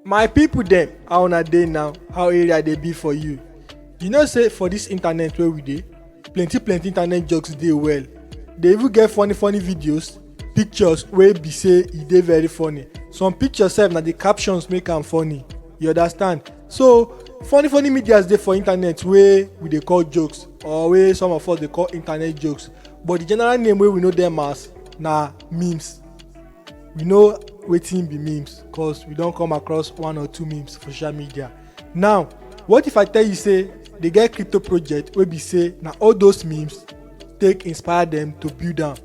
my people dem how una dey now how area dey be for you you know say for this internet wey we dey plenty plenty internet jokes dey well dey even get funny funny videos pictures wey be say e dey very funny some pictures sef na the captions make am funny you understand so funny funny medias dey for internet wey we dey call jokes or wey some of us dey call internet jokes but the general name wey we know dem as na memes we know wetin be memes cause we don come across one or two memes for social media now what if i tell you say dey get crypto project wey be say na all those memes take inspire dem to build am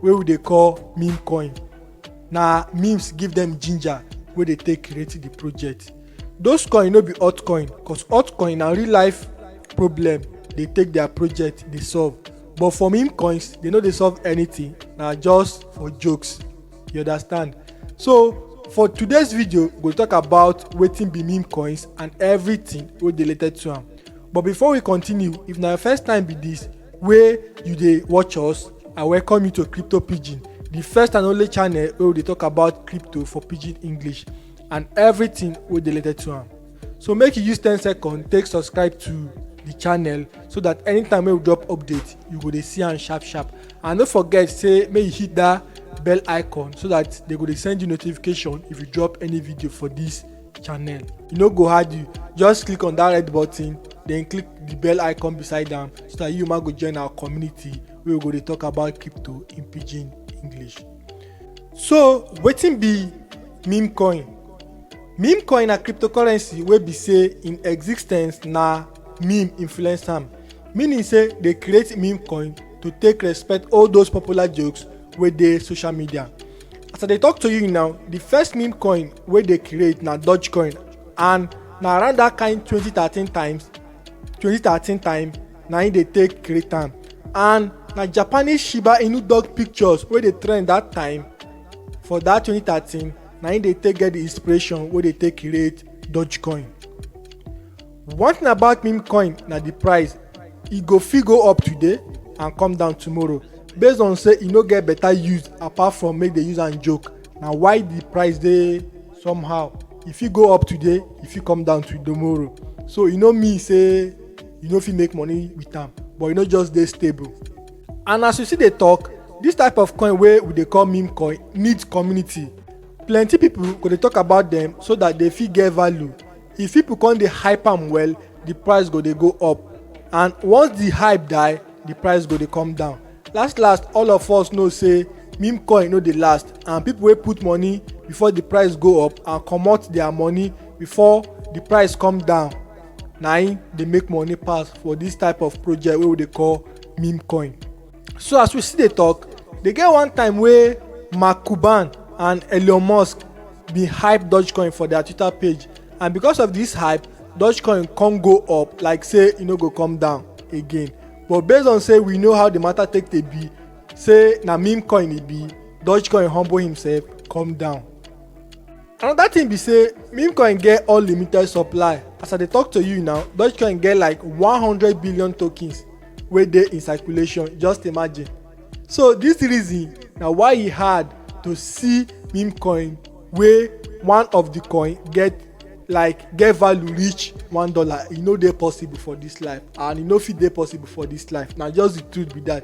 wey we dey call meme coin na memes give dem ginger wey dey take create the project those coin no be altcoin cause altcoin na real life problem dey take their project dey solve but for meme coins they no dey solve anything na just for jokes you understand so for today's video we go talk about wetin be meme coins and everything wey dey related to am but before we continue if na your first time be this wey you dey watch us i welcome you to crypto pidgin the first and only channel wey we dey talk about crypto for pidgin english and everything wey dey related to am so make you use ten seconds take subscribe to the channel so that anytime wey we drop update you go dey see am sharp sharp and no forget say make you hit that bell icon so that they go dey send you notification if you drop any video for this channel e no go hard you just click on that red button then click the bell icon beside am so that you ma go join our community wey we go dey talk about crypto in pidgin english so wetin be meme coin Meme coin na cryptocurrency wey be say im existence na meme influence am, meaning say dey create meme coin to take respect all those popular jokes wey dey social media. As I dey talk to you now, the first meme coin wey dey create na Dogecoin and na around that kind 2013 times 2013 time na im dey take create am and na Japanese Shiba Inu dog pictures wey dey trend that time for that 2013 na im dey take get the inspiration wey dey take create dogecoin one thing about meme coin na the price e go fit go up today and come down tomorrow based on say e no get better use apart from make they use am joke na why the price dey somehow e fit go up today e fit come down to tomorrow so e no mean say you no fit make money with am but e no just dey stable and as we still dey talk this type of coin wey we dey call meme coin need community plenty people go dey talk about them so that they fit get value if people come dey hype am well the price go dey go up and once the hype die the price go dey come down last last all of us know say meme coin no dey last and people wey put money before the price go up and comot their money before the price come down na im dey make money pass for this type of project wey we dey call meme coin so as we still dey talk dey get one time wey mark cuban and elon musk bin hype dogecoin for their twitter page and because of this hype dogecoin come go up like say e no go come down again but based on say we know how the matter take dey be say na meme coin e be dogecoin humble himself come down another thing be say meme coin get unlimited supply as i dey talk to you now dogecoin get like 100 billion tokens wey dey in circulation just imagine so this reason na why e hard to see meme coin wey one of the coin get like get value reach one dollar e no dey possible for this life and e no fit dey possible for this life na just the truth be that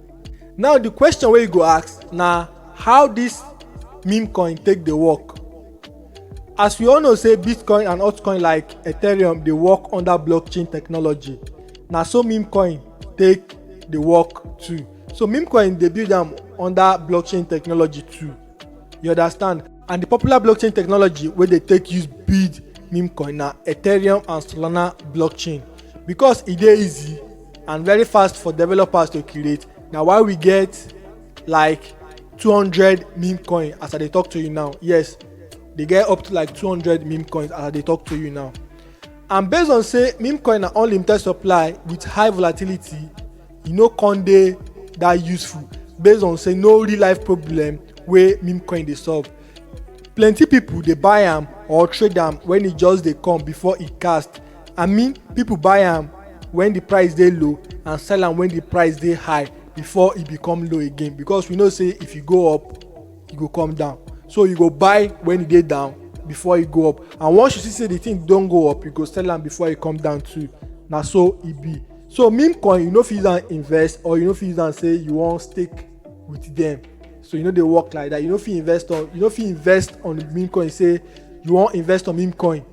Now the question wey you go ask na how this meme coin take dey work? As we all know say Bitcoin and altcoin like Ethereum dey work under blockchain technology, na so meme coin take dey work too. So meme coin dey build am under blockchain technology too. You understand? And the popular blockchain technology wey dey take use build meme coin na Ethereum and Solana blockchain because e dey easy and very fast for developers to create na why we get like 200 meme coin as i dey talk to you now yes dey get up to like 200 meme coins as i dey talk to you now and based on say meme coin na unlimited supply with high volatility e no con dey that useful based on say no real life problem wey meme coin dey solve plenty people dey buy am or trade am when e just dey come before e cast i mean people buy am when the price dey low and sell am when the price dey high before e become low again because we know say if e go up e go come down so you go buy when e dey down before e go up and once you see say the thing don go up you go sell am before e come down too na so e be so meme coin you no fit use am invest or you no fit use am say you wan stake with them so you no dey work like that you no fit invest on you no fit invest on meme coin say you wan invest on meme coin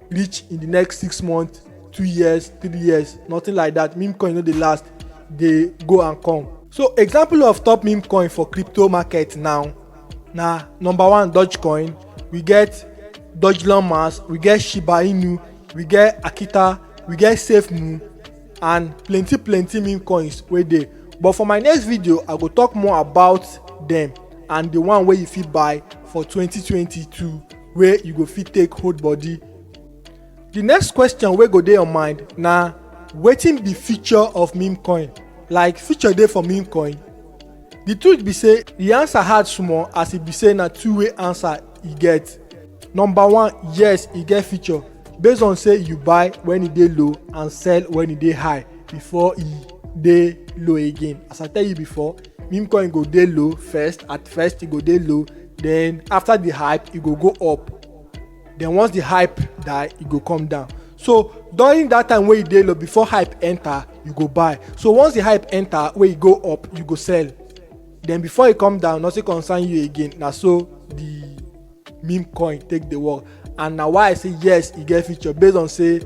reach in the next six months two years three years nothing like that meme coin no dey last dey go and come so example of top meme coin for crypto market now na number one dogecoin we get dogelon mass we get shiba inu we get akita we get safemoon and plenty plenty meme coins wey dey but for my next video i go talk more about dem and the one wey you fit buy for 2022 wey you go fit take hold body the next question wey go dey your mind na wetin be future of meme coin like future dey for meme coin the truth be say the answer hard small as e be say na two way answer e get number one yes e get feature based on say you buy when e dey low and sell when e dey high before e dey low again as i tell you before meme coin go dey low first at first e go dey low then after the hype e go go up then once the hype die e go come down so during that time wey e dey low before hype enter you go buy so once the hype enter wey e go up you go sell then before e come down nothing concern you again na so the meme coin take dey work and na why i say yes e get future based on say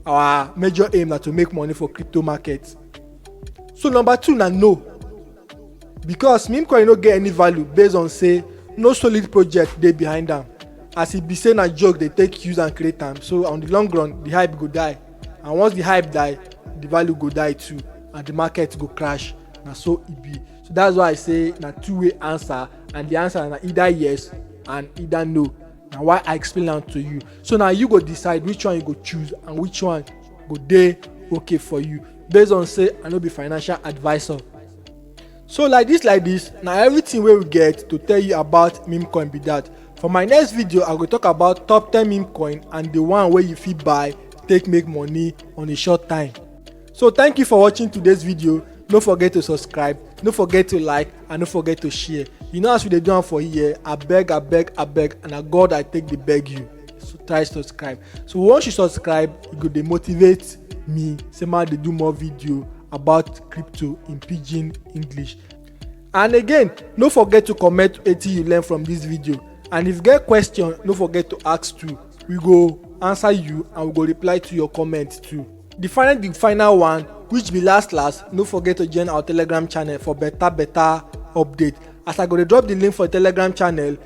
our major aim na to make money for crypto market so number two na no because meme coin no get any value based on say no solid project dey behind am as e be say na joke dey take use and create am so on the long run the hype go die and once the hype die the value go die too and the market go crash na so e be so that's why i say na two way answer and the answer na either yes and either no na why i explain am to you so na you go decide which one you go choose and which one go dey okay for you based on say i no be financial advisor So like this like this na everything wey we get to tell you about meme coin be that. For my next video I go talk about top 10 meme coin and the one wey you fit buy take make money on a short time. So thank you for watching today's video. No forget to subscribe, no forget to like and no forget to share. You know as we dey do am for here, abeg abeg abeg and na God I take dey beg you. so try subscribe so once you subscribe e go dey motivate me say ma dey do more video about crypto in pidgin english and again no forget to comment wetin you learn from this video and if you get question no forget to ask too we go answer you and we go reply to your comment too the final the final one which be last last no forget to join our telegram channel for better better update as i go dey drop the link for telegram channel